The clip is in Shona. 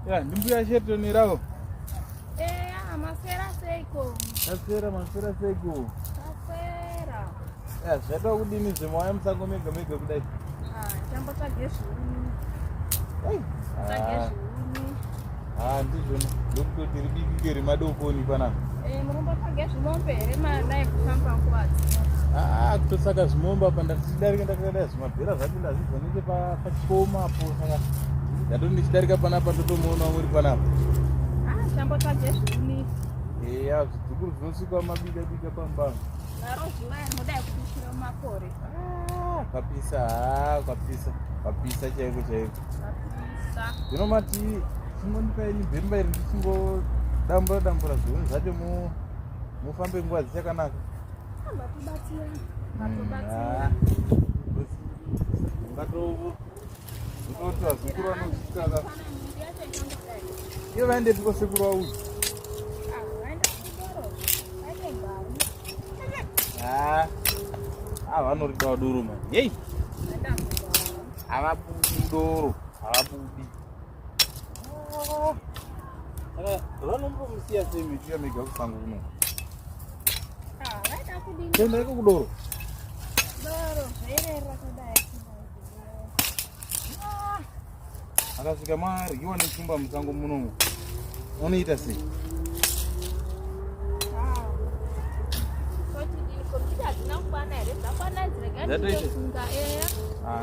Yeah, ndimbuya shetani rawo. Eya, maswera seiko. Maswera, maswera seiko. Maswera. Eya, zvaita kudini zvimwe waya musango mega mega kudai. Ah, chambo tsvage zvuni. Ei. Tsvage ah. zvuni. Ah, ndizvo ndokutoti ridiki ke remadokoni panapa. Eh, murumba tsvage zvimombe here madai kufamba nguva dzino. Ah, ah kutosaka zvimombe apa ndatichidarika ndakadai mabhera zvacho ndazvidzwa nenge pachikoma apo saka ndatoti ndichidarika panapa ndotomuona uri panapa eya zvidzukuru zvinosvika mabika bika pambano kwapisa ha kwapisa kwapisa chaiko chaiko zvino mati chingondipaini bhemba iri ndichingoo dambura dambura zviuni zvacho mufambe nguva dzichakanaka Io vende tipo seguro a uso. Ah, ah, vanno ridawa doro mani. Yei! Havabudi doro, havabudi. vanombomusiya sei miti yamega kusango kuno tenda iko kudoro akasvika maryiwa nechumba musango munomu unoita sei That is. Ah,